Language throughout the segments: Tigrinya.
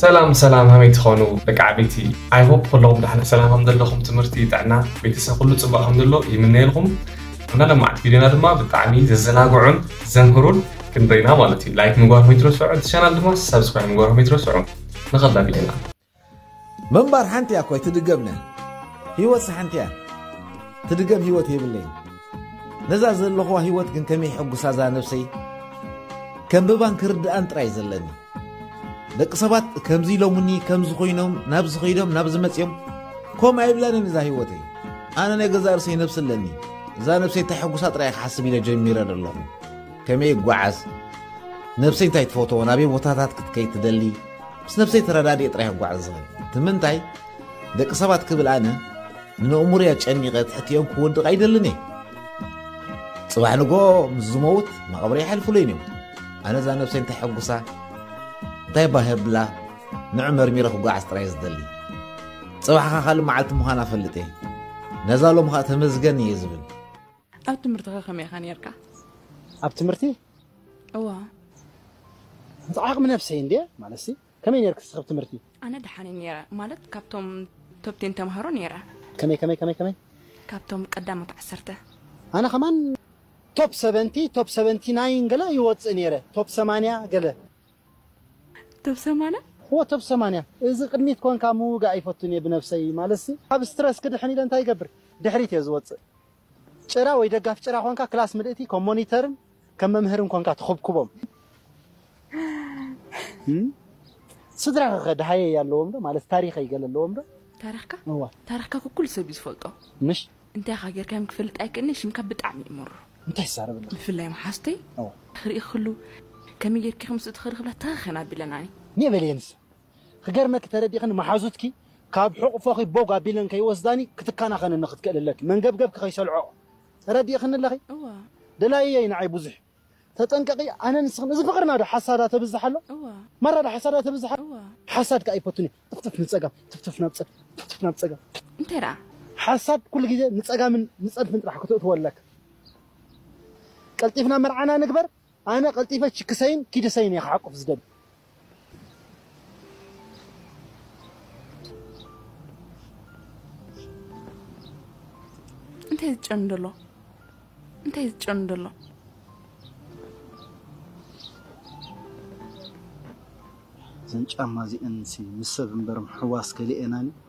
ሰላም ሰላም ሃመይ ትኮኑ ደቂ ዓበይቲ ኣይ ሆፕ ኩሉኩም ዳሕና ሰላም ከም ዘለኩም ትምህርቲ ጥዕና ቤተሰብ ኩሉ ጽቡቅ ከም ዘሎ ይምነየልኩም ኣና ለማዕቲ ቪድዮና ድማ ብጣዕሚ ዘዘናግዑን ዘምህሩን ክንደይና ማለት እዩ ላይክ ምግባር ከይትረስዑ እቲ ቻናል ድማ ሰብስክራይብ ምግባር ከይትረስዑ ንኸላ ቪድዮና ምንባር ሓንቲ እያ እኮ ኣይትድገምነ ሂወትስ ሓንቲ እያ ትድገም ሂወት የብለይን ነዛ ዘለኹዋ ህይወት ግን ከመይ ሕጉሳ እዛ ነብሰይ ከንብባን ክርድኣን ጥራይ ዘለኒ ደቂ ሰባት ከምዚ ኢሎምኒ ከምዚ ኮይኖም ናብዚ ከይዶም ናብዚ መፅኦም ከምኡ ኣይብላንን እዛ ህይወተይ ኣነ ናይ ገዛእ ርእሰይ ነብሲ ኣለኒ እዛ ነብሰይ እንታይ ሕጉሳ ጥራይ ክሓስብ ኢለ ጀሚረ ዘለኹ ከመይ ይጓዓዝ ነብሰይ እንታይ ትፈትዎ ናበይ ቦታታት ክትከይ ትደሊ ምስ ነብሰይ ተረዳድየ ጥራይ ክጓዓዝ ዝኽእል እቲ ምንታይ ደቂ ሰባት ክብል ኣነ ንነእሙርያ ጨኒቐ ትሕቲኦም ክወድቕ ኣይደልን እየ ፅባሕ ንጎ ምስ ዝመውት መቐብሪ ይሓልፍሉይን እዮም ኣነ እዛ ነብሰ እንታይ ሕጉሳ እንታይ ባህብላ ንዑ መርሚረ ክጓዓዝ ጥራይ ዝደሊ ፅባሕኻ ካልእ መዓልቲ ምዃን ኣፈልጥ እየ ነዛ ሎም ከዓ ተመዝገን እየ ዝብል ኣብ ትምህርትኻ ከመይ ኢኻ ነርካ ኣብ ትምህርቲ እዋ ዓቕሚ ነብሰይ እንድየ ማለት ከመይ ነይርኪ እስኺ ብ ትምህርቲ? ኣነ ደሓን እየ ነይረ ማለት ካብቶም ቶፕ ቴን ተማሃሮ ነይረ። ከመይ ከመይ ከመይ ከመይ? ካብቶም ቀዳሞት ዓሰርተ። ኣነ ከማን ቶፕ ሰቨንቲ ቶፕ ሰቨንቲ ናይን ገለ ይወጽእ ነይረ ቶፕ ሰማንያ ገለ። ቶፕ ሰማንያ? እወ ቶፕ ሰማንያ። እዚ ቅድሚት ኮንካ ምውጋእ ኣይፈቱን እየ ብነብሰይ ማለትሲ ካብ ስትረስ ክድሕን ኢለ እንታይ ይገብር ድሕሪት እየ ዝወጽእ ጭራ ወይ ደጋፊ ጭራ ኮንካ ክላስ ምልእቲ ከም ሞኒተርን ከም መምህርን ኮንካ ትኹብኩቦም ስድራኸ ከ ደሃየይ ኣለዎም ዶ ማለት ታሪኸይ ገለ ኣለዎም ዶ ታሪኽካ እዋ ታሪኽካ ኩኩሉ ሰብ እዩ ዝፈልጦ ምሽ እንታይ ኢኻ ጌርካዮም ክፈልጥ ኣይክእልን'የ ሽምካ ብጣዕሚ እዩ ምሩር እንታይ ትዛረበና ብፍላይ መሓዝተይ እዋ ክርኢ ክሉ ከመይ ጌርኪ ከምስ እትኸሪ ክብላ ተኸኸን ኣቢለናኒ ኒእ በልየንስ ክገርመኪ ተረዲእኽኒ መሓዙትኪ ካብ ሕቑፎኺ ቦግ ኣቢለን ከይወስዳኒ ክትከናኸንኒ ክትክእል ኣለኪ መንገብገብኪ ከይሰልዖኦ ተረዲእኽኒ ኣለኺ? እወ። ደላይየይ ንዓይ ብዙሕ እዩ። ተጠንቀቒ ኣነ ንስኽን እዚ ፍቕርና ዶ ሓሳዳ ተብዝሕ ኣሎ? እወ። ማራ ዶ ሓሳዳ ተብዝሕ ኣሎ? እወ። ሓሳድ ከኣ ኣይፈቱን እየ። ትፍትፍ ንጸጋም ትፍትፍ ናብ ጸጋም ትፍትፍ ናብ ጸጋም። እንታይ ደኣ? ሓሳድ ኩሉ ግዜ ንጸጋምን ንጸድፍን ጥራሕ ከተእትዎ ኣለካ። ቀልጢፍና መርዓና ንግበር ኣነ ቀልጢፈ ችክሰይን ኪድሰይን እየ ክሓቁፍ ዝደሊ። እንታይ ዝጨኑ ደሎ እንታይ ዝጨኑ ደሎ እዘን ጫማ እዚኤን ምስ ሰብ እምበር ምሕዋስ ከሊኤናን እዩ።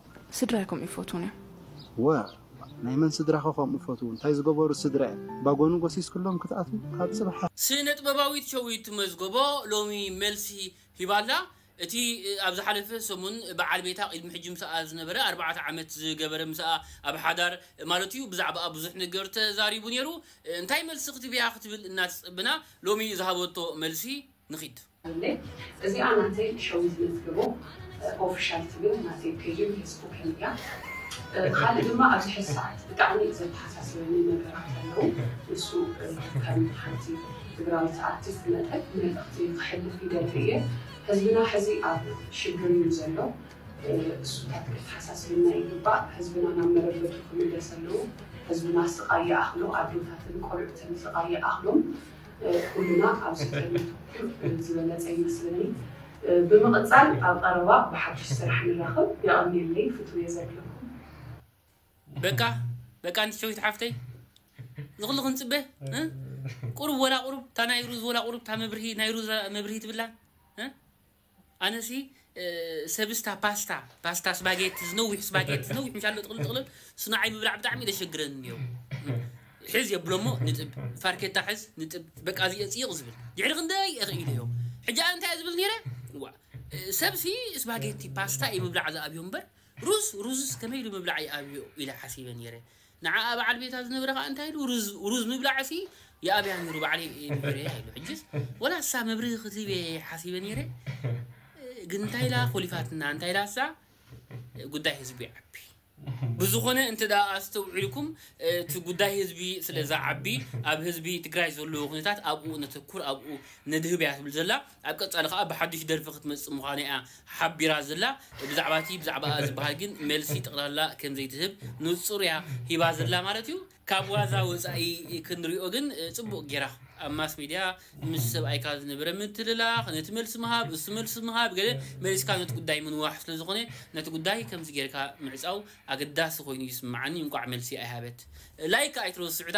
ስድራይ ከምኡ ይፈትዉኒ እዮም። ዋእ ናይ መን ስድራኸ ከምኡ ይፈትዉ እንታይ ዝገበሩ ስድራ እዮም ባጎኑ ጎሲስክሎም ክትኣትዉ ካብ ጽባሕ። ስነጥበባዊት ሸዊት መዝገቦ ሎሚ መልሲ ሂባ'ላ። እቲ ኣብ ዝሓለፈ ሰሙን ብዓል ቤታ ቅድሚ ሕጂ ምስኣ ዝነበረ ኣርባዕተ ዓመት ዝገበረ ምስኣ ኣብ ሓዳር ማለቱ'ዩ ብዛዕባኣ ብዙሕ ነገር ተዛሪቡ ኔሩ። እንታይ መልሲ ክትብያ ክትብል እናተጸበና ሎሚ ዝሃበቶ መልሲ ንኺድ። ኣለይ እዚኣ ናተይ ሸዊት መዝገቦ ኦፍሻል ትብል ናተይ ፔጅን ፌስቡክን እያ ካልእ ድማ ኣብዚ ሕዚ ሰዓት ብጣዕሚ ዘተሓሳስበኒ ነገራት ኣለዉ ንሱ ከም ሓንቲ ትግራዊት ኣርቲስት መጠን መልእኽቲ ክሕልፍ ይደሊ እየ ህዝብና ሕዚ ኣብ ሽግር እዩ ዘሎ እሱታት ከተሓሳስበና ይግባእ ህዝብና ናብ መረበቱ ክምለስ ኣለዉ ህዝብና ስቓይ ይኣኽሎ ኣዶታትን ቆልዑትን ስቓይ ይኣኽሎም ኩሉና ኣብ ስልጠና ዝበለፀ ይመስለኒ። ብምቕፃል ኣብ ቐረባ ብሓዱሽ ስራሕ ንራኸብ። የቐንየለይ ፍትውየ ዘድለኩም። በቃ በቃ ኣንቲ ሸዊት ሓፍተይ ዝኽሉ ክንፅበ ቁሩብ ወላ ቁሩብ እታ ናይ ሩዝ ወላ ቁሩብ እታ መብርሂ ናይ ሩዝ መብርሂ ትብላ ኣነሲ ሰብስታ ፓስታ ፓስታ ስባጌቲ ዝነዊሕ ስባጌቲ ዝነዊሕ ምሻሎ ጥቕልል ጥቕልል ስናዓይ ምብላዕ ብጣዕሚ ደሸግረኒ ኒዮ ሕዝ የብሎሞ ንጥብ ፋርኬታ ሕዝ ንጥብ በቃ እዚ ጽይቕ ዝብል ድሕሪ ክንደይ እኽ ኢለዮ ሕጂ ኣነ እንታይ ዝብል ኔረ ዋ ሰብሲ ስባጌቲ ፓስታ እዩ ምብላዕ ዝኣብዮ እምበር ሩዝ ሩዝስ ከመይ ኢሉ ምብላዕ ይኣብዮ ኢለ ሓሲበ ኔረ ንዓኣ በዓል ቤታ ዝነበረ ከኣ እንታይ ኢሉ ሩዝ ምብላዕሲ ይኣብያ ኔሩ ባዕለይ እየ ምሂረያ ኢሉ ሕጅስ ወላ እሳ መብርሂ ክትህብ እየ ሓሲበ ኔረ ግን እንታይ ኢላ ኮሊፋትና እንታይ ኢላ እሳ ጉዳይ ህዝቢ ይዓቢ ብዝኾነ እንተ ኣስተውዒልኩም እቲ ጉዳይ ህዝቢ ስለ ዝዓቢ ኣብ ህዝቢ ትግራይ ዘለዎ ኩነታት ኣብኡ ነተኩር ኣብኡ ነድህብ እያ ትብል ዘላ ኣብ ቀጻሊ ከኣ ብሓዱሽ ደርፊ ክትመጽእ ምዃና'ያ ሓቢራ ዘላ። ብዛዕባ'ቲ ብዛዕባኣ ዝበሃል ግን መልሲ ጠቕላላ ከም ዘይትህብ ንጹር'ያ ሂባ ዘላ ማለት'ዩ። ካብ ዋዛ ወጻኢ ክንሪኦ ግን ጽቡቕ ጌራ ኣብ ማስ ሜድያ ምስ ሰብኣይካ ዝነበረ ምትልላኽ፣ ነቲ መልሲ ምሃብ፣ እሱ መልሲ ምሃብ ገለ መሊስካ ነቲ ጉዳይ ምንዋሕ ስለ ዝኾነ ነቲ ጉዳይ ከምዚ ጌርካ ምዕጻው ኣገዳሲ ኮይኑ ይስምዓኒ እንቋዕ መልሲ ኣይሃበት ላይክ ኣይትረስዑታ።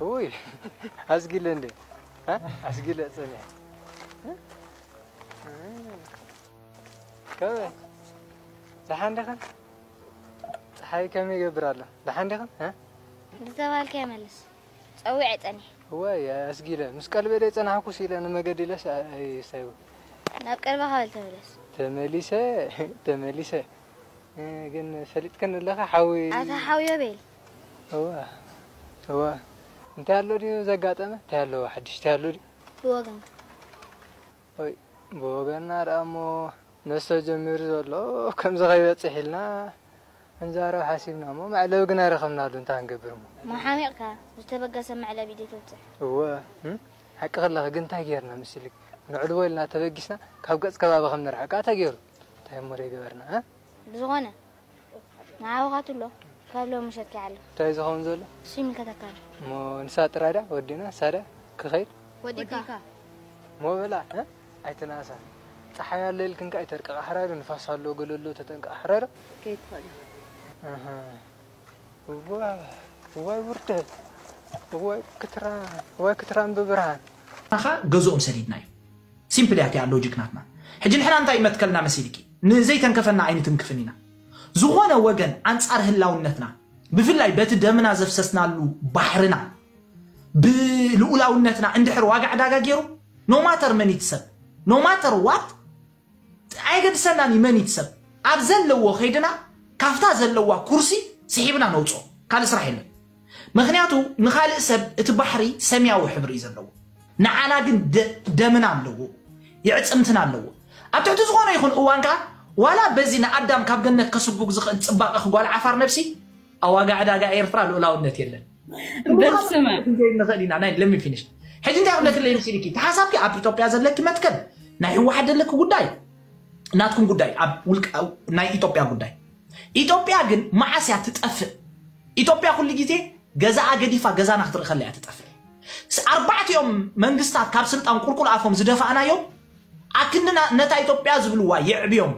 ውይ ኣስጊለ እንደ ኣስጊለ ፅንሕ ከመይ ደሓን ዲኻ ፀሓይ ከመይ ይገብር ኣሎ ደሓን ዲኽን ዝተባሃልካዮ መልስ ፀዊዐ ፀኒሐ እዋይ ኣስጊለ ምስ ቀልበ ደ ፀናሕኩ ስኢለ ንመገዲ ኢለስ ኣይሳይቡ ናብ ቀልበኻ በል ተመለስ ተመሊሰ ተመሊሰ ግን ፈሊጥክን ኣለኻ ሓዊ ኣታ ሓውዮ ቤል እዋ እዋ እንታይ ኣሎ ድዩ ዘጋጠመ እንታይ ኣለዎ ሓድሽ እንታይ ኣሎ ድዩ ብወገንካ ወይ ብወገንና ደኣሞ ነሰ ጀሚሩ ዘሎ ከምዚ ከይበጽሕ ኢልና ክንዛረብ ሓሲብና እሞ መዕለቢ ግና ኣይረኸብናሉን እንታይ ክንገብር እሞ። መሓሚቕካ ዝተበገሰ መዕለቢ ድዩ ተብጽሕ? እወ ሓቂ ከለኺ ግን እንታይ ጌርና ምስልኪ ነዕልቦ ኢልና ተበጊስና ካብ ገጽ ከባቢ ከም ንርሕቃ ተጌሩ እንታይ እሞ ደይገበርና? ብዝኾነ ንዓኹ ካትሎ ካብ ሎሚ ሸኪ ዓሎ። እንታይ ዝኸውን ዘሎ? እሱ ይምልከተካን። እሞ ንሳ ጥራይ ድያ ወዲና ሳዳ ክኸይድ? ወዲካ። እሞ በላ ኣይትንኣሳ ጸሓይ ኣሎ ኢልክን ከኣ ኣይተርቅቓ ሕራዶ ንፋስ ኣሎ ገለ ኣሎ ተጠንቀቓ ሕራዶ። ክትከይድ ትኽእል ኢኻ። ኣሃ እዋይ እዋይ ውርደት እዋይ ክትራን እዋይ ክትራን ብብርሃን። ንዓኻ ገዝኦም ሰዲድናዮም ሲምፕል እያ እቲኣ ሎጂክ ናትና ሕጂ ንሕና እንታይ ይመትከልና መሲልኪ ንዘይተንከፈና ኣይንትንክፍን ኢና ዝኾነ ወገን ኣንጻር ህላውነትና ብፍላይ በቲ ደምና ዘፍሰስናሉ ባሕርና ብልኡላውነትና እንድሕር ዋጋ ዕዳጋ ገይሩ ኖማተር መን ይትሰብ ኖማተር ዋት ኣየገድሰናን እዩ መን ይትሰብ ኣብ ዘለዎ ከይድና ካፍታ ዘለዋ ኩርሲ ስሒብና ነውፅኦ ካልእ ስራሕ የለን ምክንያቱ ንካልእ ሰብ እቲ ባሕሪ ሰምያዊ ሕብሪ እዩ ዘለዎ ንዓና ግን ደምና ኣለዎ የዕጽምትና ኣለዎ ኣብ ትሕቲ ዝኾነ ይኹን እዋን ከኣ ዋላ በዚ ንኣዳም ካብ ገነት ከስጉግ ዝኽእል ጽባቐ ክጓል ዓፋር ነብሲ ኣዋጋ ዕዳጋ ኤርትራ ልኡላውነት የለን በስመ ንኽእል ኢና ናይ ለሚ ፊኒሽ ሕጂ እንታይ ክብለክለይ ምሲልኪ ተሓሳብኪ ኣብ ኢትዮጵያ ዘለኪ መትከል ናይ ህወሓት ዘለኪ ጉዳይ ናትኩም ጉዳይ ኣብ ውልቀ ናይ ኢትዮጵያ ጉዳይ ኢትዮጵያ ግን መዓስ እያ ትጠፍእ? ኢትዮጵያ ኩሉ ግዜ ገዛኣ ገዲፋ ገዛና ክትርኢ ከላ እያ ትጠፍእ። ኣርባዕቲኦም መንግስታት ካብ ስልጣን ቁልቁል ኣፎም ዝደፋእናዮም ኣክንዲ ነታ ኢትዮጵያ ዝብልዋ የዕብዮም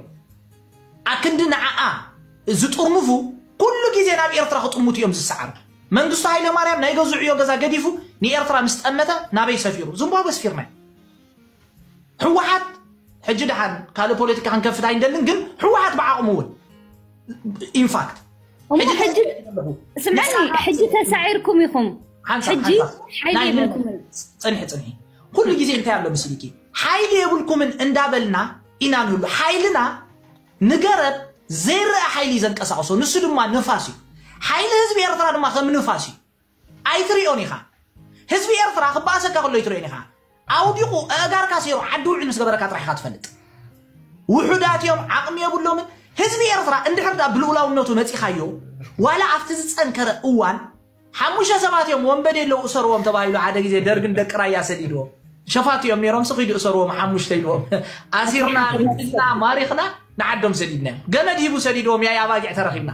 ኣክንዲ ንዓኣ ዝጥርንፉ ኩሉ ግዜ ናብ ኤርትራ ክጥምቱ እዮም ዝሰዓሩ። መንግስቱ ሃይለማርያም ናይ ገዝዑዮ ገዛ ገዲፉ ንኤርትራ ምስ ጠመተ ናበይ ሰፊሩ? ዝምቧበ ስፊርናዮ። ሕወሓት ሕጂ ድሓን ካልእ ፖለቲካ ክንከፍት ኣይንደልን ግን ሕወሓት ብዓቕሙ እውን ኢንፋክት ስምዐኒ ሕጂ ተሳዒርኩም ኢኹም ሕጂ ሓይሊ የብልኩምን ፅንሒ ፅንሒ ኩሉ ግዜ እንታይ ኣሎ ምስልኪ ሓይሊ የብልኩምን እንዳበልና ኢና ንህሉ ሓይልና ንገረብ ዘይረአ ሓይሊ እዩ ዘንቀሳቕሶ ንሱ ድማ ንፋስ እዩ ሓይሊ ህዝቢ ኤርትራ ድማ ከም ንፋስ እዩ ኣይትሪኦን ኢኻ ህዝቢ ኤርትራ ክበኣሰካ ከሎ ኣይትሪኦን ኢኻ ኣውዲቑ ኣእጋርካ ሰይሩ ዓዲ ውዕል ምስ ገበረካ ጥራሕ ኢኻ ትፈልጥ ውሑዳት እዮም ዓቕሚ የብሎምን ህዝቢ ኤርትራ እንድሕር ዳ ብልኡላውነቱ ነፂኻዮ ዋላ ኣብቲ ዝፀንከረ እዋን ሓሙሽተ ሰባት እዮም ወንበዴ ኣለዉ እሰርዎም ተባሂሉ ሓደ ግዜ ደርግን ደቂ ራያ ሰዲድዎ ሸፋቱ እዮም ነይሮም ስኺዱ እሰርዎም ሓሙሽተ ኢልዎም ኣሲርና ግዝና ማሪኽና ንዓዶም ሰዲድና ገመድ ሂቡ ሰዲድዎም ያይ ኣባጊዕ ተረኺብና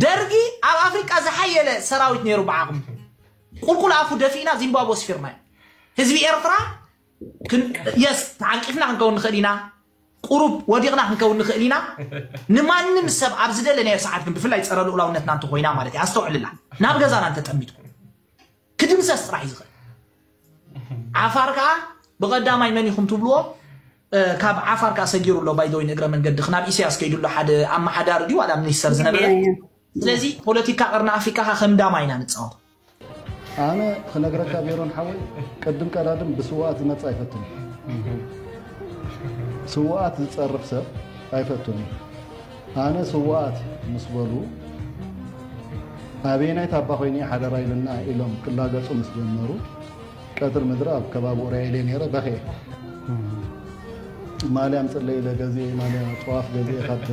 ደርጊ ኣብ ኣፍሪቃ ዝሓየለ ሰራዊት ነይሩ ብዓቕምኹም ቁልቁል ኣፉ ደፊእና ዚምባብወ ወስፊርናዮ ህዝቢ ኤርትራ የስ ተዓንቂፍና ክንከውን ንኽእል ኢና ቁሩብ ወዲቕና ክንከውን ንኽእል ኢና ንማንም ሰብ ኣብ ዝደለናዮ ሰዓት ግን ብፍላይ ፀረ ልኡላውነትና እንተኮይና ማለት እዩ ኣስተውዕልላ ናብ ገዛና እንተጠሚትኩም ክድምሰስ ጥራሕ እዩ ዝኽእል ዓፋር ከዓ ብቐዳማይ መን ኢኹም ትብልዎ ካብ ዓፋር ከዓ ሰጊሩ ኣሎ ባይዘወይ ንእግረ መንገዲ ክናብ ኢሳያስ ከይዱ ኣሎ ሓደ ኣመሓዳሪ ድዩ ዋላ ሚኒስተር ዝነበረ ስለዚ ፖለቲካ ቀርኒ ኣፍሪካ ከዓ ከም ዳማ ኢና ንፃወት ኣነ ክነግረካ ሜሮን ሓወይ ቅድም ቀዳድም ብስዋኣት ዝመፅ ኣይፈትን ስዋኣት ዝፀርፍ ሰብ ኣይፈትን እዩ ኣነ ስውኣት ምስ በሉ ኣበየናይ ታባ ኮይነ ሓደራ ኢልና ኢሎም ክላገፁ ምስ ጀመሩ ቀትር ምድሪ ኣብ ከባቢ ኡራኤል እየ ነይረ በኽየ ማልያ ምፅለይ ኢለ ገዜ ማልያ ጠዋፍ ገዜ ካብ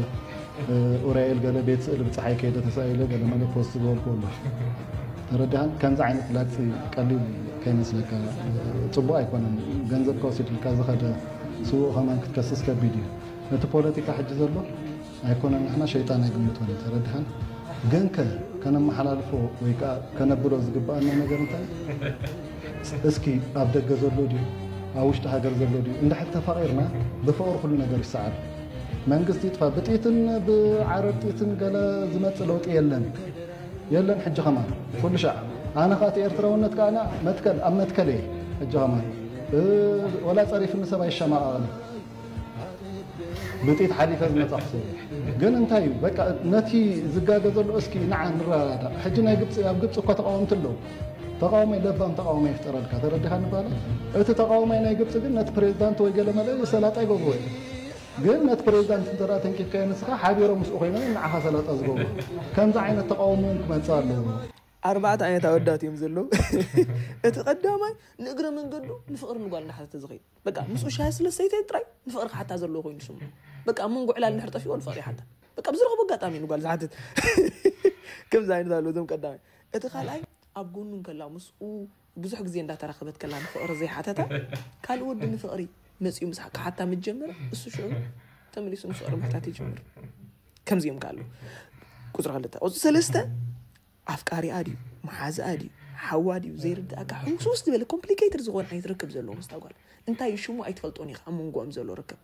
ኡራኤል ገለ ቤት ስእሊ ብፀሓይ ከይደ ተሳኢለ ገለ መለ ፖስት ዝበልኩ ኣሎ ተረዳህን ከምዚ ዓይነት ላግፂ ቀሊል ከይመስለካ ፅቡቅ ኣይኮነን ገንዘብካ ወሲድልካ ዝኸደ ስውእ ከማን ክትከስስ ከቢድ እዩ እቲ ፖለቲካ ሕጂ ዘሎ ኣይኮነን ንሕና ሸይጣን ኣይግምቶን እዩ ተረድሃን ግን ከ ከነመሓላልፎ ወይ ከዓ ከነብሎ ዝግባኣና ነገር እንታይ እስኪ ኣብ ደገ ዘሎ ድዩ ኣብ ውሽጢ ሃገር ዘሎ ድዩ እንድሕር ተፋቂርና ብፍቅሪ ኩሉ ነገር ይሰዓል መንግስቲ ይጥፋ ብጥይትን ብዓረር ጥይትን ገለ ዝመፅእ ለውጢ የለን የለን ሕጂ ከማን ኩሉ ሻዕ ኣነ ከዓ እቲ ኤርትራውነት ከዓ መትከል ኣብ መትከል እየ ሕጂ ከማን ወላ ፀሪፍኒ ሰብ ኣይሸማቐቕን ብጥይት ሓሊፈ ዝመጻኹ ሰብ እየ ግን እንታይ እዩ በቃ ነቲ ዝጋገ ዘሎ እስኪ ንዓ ንረዳዳእ ሕጂ ናይ ግብፂ ኣብ ግብፂ እኳ ተቃወምቲ ኣለዉ ተቃዋማይ ለባም ተቃዋማይ ይፍጠረልካ ተረዲኻ ንባለ እቲ ተቃዋማይ ናይ ግብፂ ግን ነቲ ፕሬዚዳንት ወይ ገለ መለ ሰላጣ ይገብርዎ እዩ ግን ነቲ ፕሬዚዳንት እንተ ተንኪፍካዮ ንስኻ ሓቢሮም ምስኡ ኮይኖም ንዓኻ ሰላጣ ዝገብሩ ከምዚ ዓይነት ተቃውሞ እውን ክመፅእ ኣለዎ ኣርባዕተ ዓይነት ኣወዳት እዮም ዘለዉ እቲ ቀዳማይ ንእግረ መንገዱ ንፍቕሪ ንጓል እናሓተተ ዝኸይድ በቃ ምስኡ ሻሂ ስለ ሰይተ ጥራይ ንፍቕሪ ክሓታ ዘለዎ ኮይኑ ስሙ በቃ ኣብ መንጎ ዕላል ንድሕር ጠፊኦ ንፍቕሪ ይሓታ በቃ ብዝረኸቦ ኣጋጣሚ እዩ ንጓል ዝሓትት ከምዚ ዓይነት ኣሎ እዞም ቀዳማይ እቲ ካልኣይ ኣብ ጎኑ ከላ ምስኡ ብዙሕ ግዜ እንዳተራኸበት ከላ ንፍቕሪ ዘይሓተታ ካልእ ወዲ ንፍቕሪ መፅኡ ምስ ክሓታ ምስ ጀመረ እሱ ሽዑ ተመሊሱ ንፍቕሪ ምሕታት ይጀምር ከምዚኦም ከ ኣለዉ ቁፅሪ ክልተ ቁፅሪ ሰለስተ ኣፍቃሪኣ ድዩ መሓዝኣ ድዩ ሓዋ ድዩ ዘይርድኣካ ሕውስውስ ዝበለ ኮምፕሊኬትድ ዝኾነ ዓይነት ርክብ ዘለዎ ምስታ ጓል እንታይ እዩ ሽሙ ኣይትፈልጦን ኢኻ ኣብ መንጎኦም ዘሎ ርክብ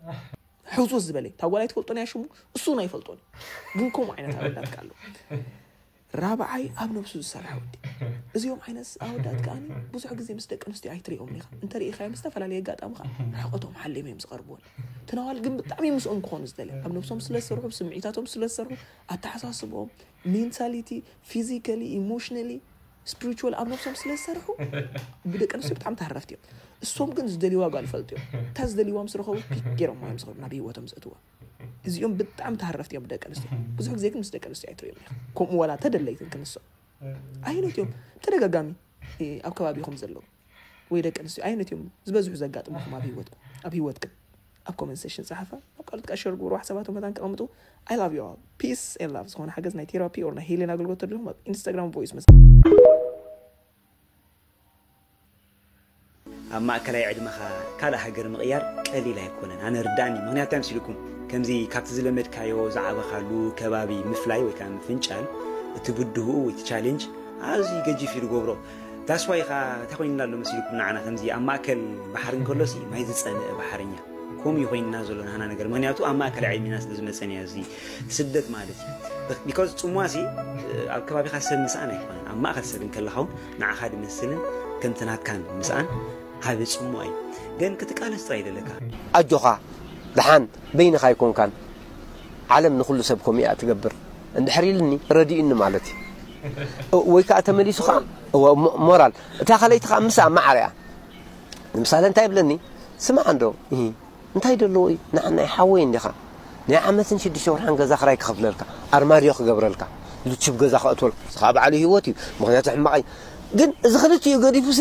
ሕውስውስ ዝበለ እታ ጓል ኣይትፈልጦን እያ ሽሙ እሱ እውን ኣይፈልጦን እዩ ግን ከምኡ ዓይነት ኣወዳትካ ኣሎ ራብዓይ ኣብ ነብሱ ዝሰርሐ ወዲ እዚኦም ዓይነት ኣወዳት ከዓ ብዙሕ ግዜ ምስ ደቂ ኣንስትዮ ኣይትሪኦምን ኢኻ እንተርኢኻዮም ዝተፈላለየ ኣጋጣሚ ከዓ ርሕቀቶም ሓሊም እዮም ዝቐርብዎን ትነዋል ግን ብጣዕሚ ምስኦም ክኾኑ ዝደለ ኣብ ነብሶም ስለዝሰርሑ ስምዒታቶም ስለዝሰርሑ ኣተሓሳስቦም ሜንታሊቲ ፊዚካሊ ኢሞሽናሊ ስፕሪቹዋል ኣብ ነብሶም ስለ ዝሰርሑ ብደቂ ኣንስትዮ ብጣዕሚ ተሃረፍቲ እዮም እሶም ግን ዝደልይዋ ጓል ፈልጡ እዮም እታ ዝደልይዋ ምስ ረኸቡ ፒክ ገይሮም እዮም ዝኸዱ ናብ ሂወቶም ዘእትዋ እዚኦም ብጣዕሚ ተሃረፍቲ እዮም ብደቂ ኣንስትዮ ብዙሕ ግዜ ግን ምስ ደቂ ኣንስትዮ ኣይትሪኦም ኢኻ ከምኡ ዋላ ተደለይትን ክንሶም ኣይነት እዮም ተደጋጋሚ ኣብ ከባቢኹም ዘለዉ ወይ ደቂ ኣንስትዮ ኣይነት እዮም ዝበዝሑ ዘጋጥምኹም ኣብ ሂወትኩም ኣብ ሂወትክን ኣብ ኮመንት ሴሽን ጸሓፋ ናብ ካልኦት ከኣ ሸር ግበርዋ ሓሳባቶም መታን ከቐምጡ I love you all peace and love ዝኾነ ሓገዝ ናይ ቴራፒ or ናይ ሄሌን ኣገልግሎት ተድልኹም ኣብ ኢንስታግራም ቮይስ መስ ኣብ ማእከላይ ዕድመኻ ካልእ ሃገር ምቕያር ቀሊል ኣይኮነን ኣነ ርዳእኒ ምክንያቱ እንታይ ምስልኩም ከምዚ ካብቲ ዝለመድካዮ ዝዓበኻሉ ከባቢ ምፍላይ ወይ ከዓ ምፍንጫል እቲ ብድህኡ እቲ ቻሌንጅ ኣዝዩ ገጂፍ እዩ ዝገብሮ That's why ኢኻ እንታይ ኮይንና ኣሎ መሲልኩም ንዓና ከምዚ ኣብ ማእከል ባሕሪ እንከሎሲ ማይ ዝጸንእ ባሕረኛ ከምኡ እዩ ኮይንና ዘሎ ናህና ነገር ምክንያቱ ኣብ ማእከል ዕድሜና ስለ ዝመጸን እያ እዚ ስደት ማለት እዩ ቢኮዝ ጽሟሲ ኣብ ከባቢኻ ሰብ ምስኣን ኣይኮነን ኣብ ማእከል ሰብ እንከለኻ እውን ንዓኻ ድመስልን ከምቲ ናትካን ምስኣን ዓቢ ጽሟ እዩ ግን ክትቃለስ ጥራይ ደለካ ኣጆኻ ደሓን በይንኻ ኣይኮንካን ዓለም ንኹሉ ሰብ ከምኡ እያ እትገብር እንድሕር ኢሉኒ ረዲኡኒ ማለት እዩ ወይ ከዓ ተመሊሱ ከዓ ሞራል እታ ካልኣይቲ ከዓ ምስኣ ማዕረ እያ ንምሳሌ እንታይ ይብለኒ ስማዕ እንዶ እንታይ ደለዎ እዩ ንዓናይ ሓወይ እንዲኻ ናይ ዓመትን ሽዱሽተ ወርሓን ገዛ ክራይ ክኸፍለልካ ኣርማድዮ ክገብረልካ ልችብ ገዛ ከእትወልካ እዚ ከዓ በዓሉ ህይወት እዩ ምክንያቱ ሕማቕ እዩ ግን እዚ ክልቲኡ ገዲፉሲ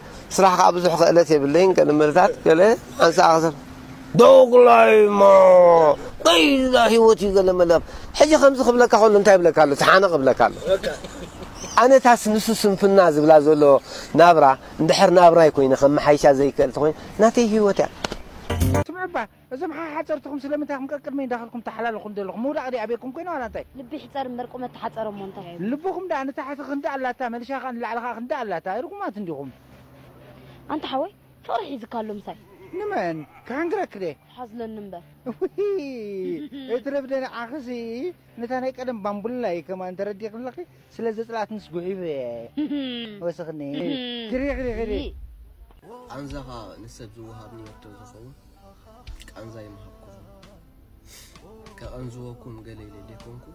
ስራሕ ከኣ ብዙሕ ክእለት የብለይን ገለ መደታት ገለ ሓንሳእ ክሰብ ዶግላይሞ ቀይላ ህይወት እዩ ገለ መለ ሕጂ ከምዚ ክብለካ ከሎ እንታይ ይብለካ ኣሎ ተሓነቕ ይብለካ ኣሎ ኣነታስ ንሱ ስንፍና ዝብላ ዘሎ ናብራ እንድሕር ናብራይ ኮይነ ከመሓይሻ ዘይክእል ተኮይነ ናተይ ህይወት እያ ስምዑ እባ እዞም ሓሓጸርትኹም ስለምንታይ ኢኹም ቀቅድመይ እንዳኸድኩም ታሓላልኹኒ ዘለኹም ምውዳቕ ድየ ኣበይኩም ኮይነ ዋላ እንታይ። ልቢ ይሕጸር እምበር ቁመት ተሓጸረ እሞ እንታይ። ልብኹም ደኣ ንታሕቲ ክንዲ ኣላታ መልሻ ከኣ ንላዕሊ ከኣ ክንዲ ኣላታ ርጉማት እንዲኹም። ኣንታ ሓወይ ፍቅሪ ሒዝካ ኣሎ ምሳይ። ንመን ክሕንግረኪ ድየ። ሓዝለኒ እምበር። እውይ እትረፍ ዶ ንዓኽሲ ነታ ናይ ቀደም ባምቡላይ ከማን ተረዲእኪ ኣለኺ ስለ ዘጽለኣትንስ ጉሒፈ እየ ወስኽኒ ክሪ ክሪ ክሪ። ቃንዛኻ ንሰብ ዝወሃብ ኔርቶ ዝኸውን። ቃንዛ ይምሃብኩም ከቐንዝወኩም ገለ ኢለ ዘይኮንኩ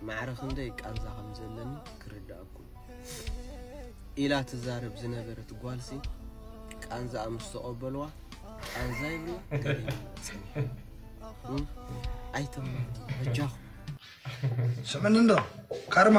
ማዕረ ክንደይ ቃንዛ ከም ዘለኒ ክርድኣኩም ኢላ ትዛረብ ዝነበረት ጓልሲ ቃንዛኣ ምስ ተቐበልዋ ቃንዛ ይብሉ ገለ ኣይተማሩ በጃኹም ስምኒ እንዶ ካርማ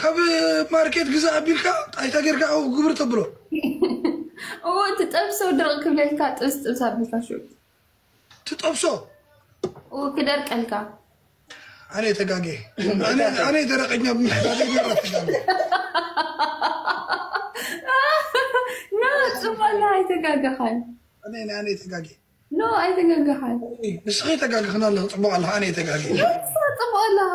ካብ ማርኬት ግዛ ኣቢልካ ጣይታ ጌርካ ኣብኡ ግብር ተብሎ እዎ ትጠብሶ ድርቅ ክብለልካ ጥብስ ጥብስ ኣቢልካ ሹ ትጠብሶ ክደርቀልካ ኣነ ተጋጌ ኣነ ደረቀኛ ብምሕታት ጽማላ ኣይተጋገኻን ኣነ ኣነ ተጋጌ ኖ ኣይተጋገኻን ንስኺ ተጋግኽና ኣለኹ ጽቡቅ ኣለኻ ኣነ ተጋጌ ጽቡቅ ኣለኻ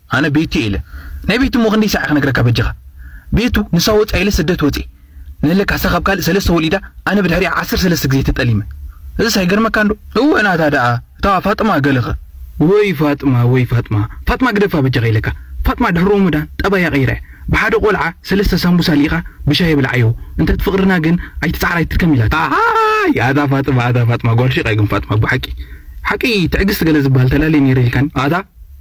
ኣነ ቤቱ እየ ኢለ ናይ ቤቱ እሞ ክንደይ ሳዕ እየ ክነግረካ በጃኻ ቤቱ ንሳ ወፃ ኢለ ስደት ወፅየ ንህለክ ኣሳ ካብ ካልእ ሰለስተ ወሊዳ ኣነ ብድሕሪኣ ዓሰርተ ሰለስተ ግዜ ተጠሊመ እዝስ ኣይገርመካን ዶ እወ ናታ ደኣ እታ ፋጥማ ገለኸ ወይ ፋጥማ ወይ ፋጥማ ፋጥማ ግደፋ በጃኻ ኢለካ ፋጥማ ድሕሪ ሮሞዳን ጠባያ ቀይራ እያ ብሓደ ቆልዓ ሰለስተ ሳምቡሳ ልኢኻ ብሻሂ ብልዓዮ እንተት ፍቅርና ግን ኣይትፅዓር ኣይትድከም ኢላታ ኣይ ኣታ ፋጥማ ኣታ ፋጥማ ጓል ሼቅ እያ ግን ፋጥማ ብሓቂ ሓቂ ትዕግስቲ ገለ ዝብሃል ተላልየ ነይረ ኢልካኒ ኣታ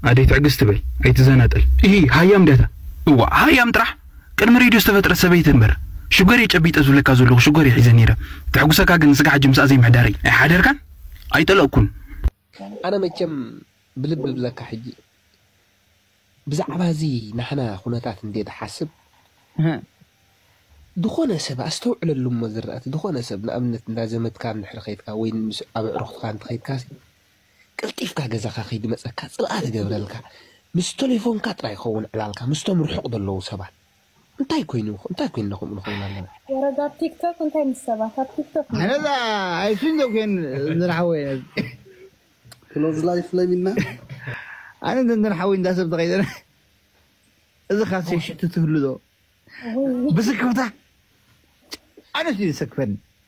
ኣደይ ትዕግስቲ በል ኣይትዘናጠል ኢሂ ሃያም ድያ እታ። እዋእ ሃያም ጥራሕ ቅድሚ ሬድዮ ዝተፈጥረት ሰበይቲ እንበር ሽጎርየ ጨቢጠ ዝብለካ ዘለኩ ሽጎርየ ሒዘ ነይረ ተሕጉሰካ ግን ንስጋ ሕጂ ምስኣ ዘይምሕዳረይ ኣይሓደርካን ኣይጠለቅኩን። ኣነ መቸም ብልቢ እብለካ ሕጂ ብዛዕባ እዚ ናህና ኩነታት እንድየ ድሓስብ ድኮነ ሰብ ኣስተውዕለሉ እሞ ዝራእቲ ድኮነ ሰብ ንኣብነት እንዳ ዘመድካ እንድሕሪ ከይድካ ወይ ምስ ኣብ ኣዕሩክትካ እንተከይድካሲ ቀልጢፍካ ገዛኻ ከይድመጸካ ጽልኣ ትገብረልካ ምስ ተሌፎንካ ጥራይ ይኸውን ዕላልካ ምስቶም ርሑቕ ዘለዉ ሰባት እንታይ ኮይኑ እንታይ ኮይንና ከምኡ ንኸውን ኣለና። ወረጃ ኣብ ቲክቶክ እንታይ ምስ ሰባት ኣብ ቲክቶክ ኣነ እዛ ኣይሱን ዘኮን ዝርሓወይ ነዚ ክሎዝ ላይፍ ለሚና ኣነ ዘንደን ሓወይ እንዳ ሰብ ተቀይረ እዚ ካሴ ሽቱ ትህሉ ዶ ብስክፍታ ኣነስ እዩ ዝሰክፈኒ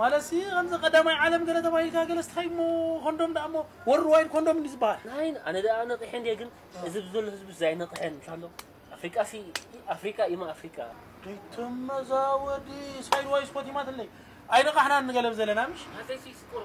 ማለትሲ ከምዚ ቀዳማይ ዓለም ገለ ተባሂልካ ገለ ስታይ እሞ ኮንዶም ደኣ እሞ ወርልድ ዋይድ ኮንዶም እንዲ ዝበሃል ናይ ኣነ ደኣ ነቒሐ እንዲየ ግን እዚ ብዘሎ ህዝቢ ዘይነቕሐ እንታሎ ኣፍሪቃሲ ኣፍሪቃ ኢማ ኣፍሪቃ ይትመዛወዲ ሳይድ ዋይስ ኮቲማትለይ ኣይነቓሕናን ንገለብ ዘለና ምሽ ኣዘይሲ ስቁር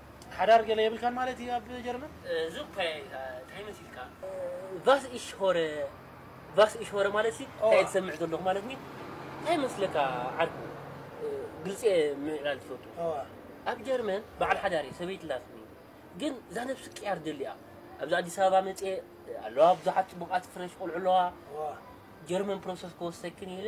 ሓዳር ገለ የብልካን ማለት እዩ ኣብ ጀርመን? እዚ እኳ እንታይ መሲልካ? ቫስ ኢሽ ሆረ ቫስ ኢሽ ሆረ ማለትሲ እንታይ እየ ዝሰምዕ ዘለኹ ማለት ኒ እንታይ መስለካ ዓርኩ ግልፂ እየ ምዕላል ዝፈቱ ኣብ ጀርመን በዓል ሓዳር እየ ሰበይቲ ኣላትኒ ግን እዛ ነብሲ ቅያር ደሊኣ ኣብዚ ኣዲስ ኣበባ መፅየ ኣለዋ ብዙሓት ፅቡቓት ፍረሽ ቆልዑ ኣለዋ ጀርመን ፕሮሰስ ክወስደክን ኢለ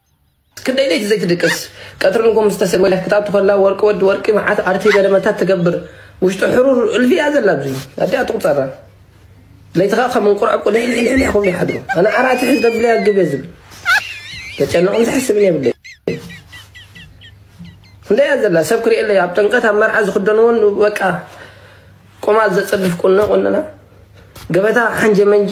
ክንደይ ለይቲ ዘይትድቅስ ቀትሪ ንጎ ምስ ተሰ ወላ ክትኣቱ ከላ ወርቂ ወዲ ወርቂ መዓት ኣርቲ ገለመታት ትገብር ውሽጢ ሕሩር እልፊ እያ ዘላ ኣብዚ ኣዲኣ ትቁፀራ ለይቲ ከዓ ከም እንቁራቁ ልሕልሕልሕ ክብሉ ይሓድሩ ኣነ ዓራት ሕዝ ደብለያ ግብ እየ ዝብል ተጨንቕን ዝሕስብን የብለይ ክንደይ እያ ዘላ ሰብ ክርእየለይ ኣብ ጥምቀት ኣብ መርዓ ዝክደንዎን በቃ ቁማል ዘፅድፍ ቁኖ ቁንና ገበታ ሓንጀ መንጂ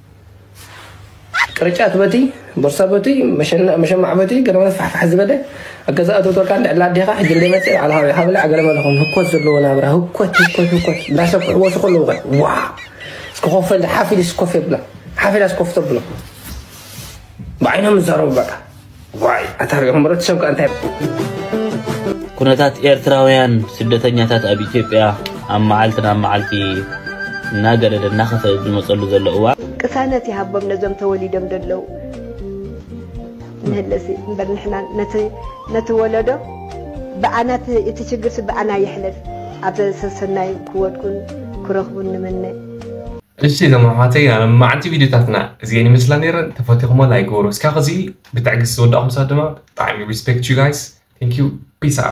ቅርጫት በቲ ቦርሳ በቲ መሸማዕ በቲ ገለመለ ፋሕፋሕ ዝበለ ኣገዛ ኣተውተልካ እንድዕላ ኣዴኻ ሕጂ እንደ መፅእ በዓል ሃብዒ ሃብላ ገለመለ ኹን ህኮት ዘለዎ ናብራ ህኮት ህኮት ህኮት እንዳሰፍሑ ወሱ ከለዉ ኸ ዋ እስኪ ኮፍ ሓፍ ኢልስ ኮፍ የብላ ሓፍ ኢላስ ኮፍ ተብሎ ብዓይኖም ዝዛረቡ በቃ ዋይ ኣታ ሪኦም ሕብረተሰብ ከ እንታይ ኩነታት ኤርትራውያን ስደተኛታት ኣብ ኢትዮጵያ ኣብ መዓልቲ ናብ መዓልቲ እናገደደ እናኸፈ ዝመፀሉ ዘሎ እዋን ቅሳነት ይሃቦም ነዞም ተወሊዶም ዘለዉ ንህለሲ እምበር ንሕና ነቲ ወለዶ ብኣናት እቲ ችግርሲ ብኣና ይሕለፍ ኣብ ሰሰናይ ክወድቁን ክረኽቡን ንምነ እሺ እዞም ኣሕዋተይ ኣነ መዓልቲ ቪድዮታትና እዚኤን ይመስላ ነይረን ተፈቲኹሞ ላይክ ግበሩ እስካብ ኸዚ ብትዕግስቲ ዝወዳእኹም ሰባት ድማ ብጣዕሚ ሪስፔክት ዩ ጋይስ ቴንኪው ፒስ ኣውት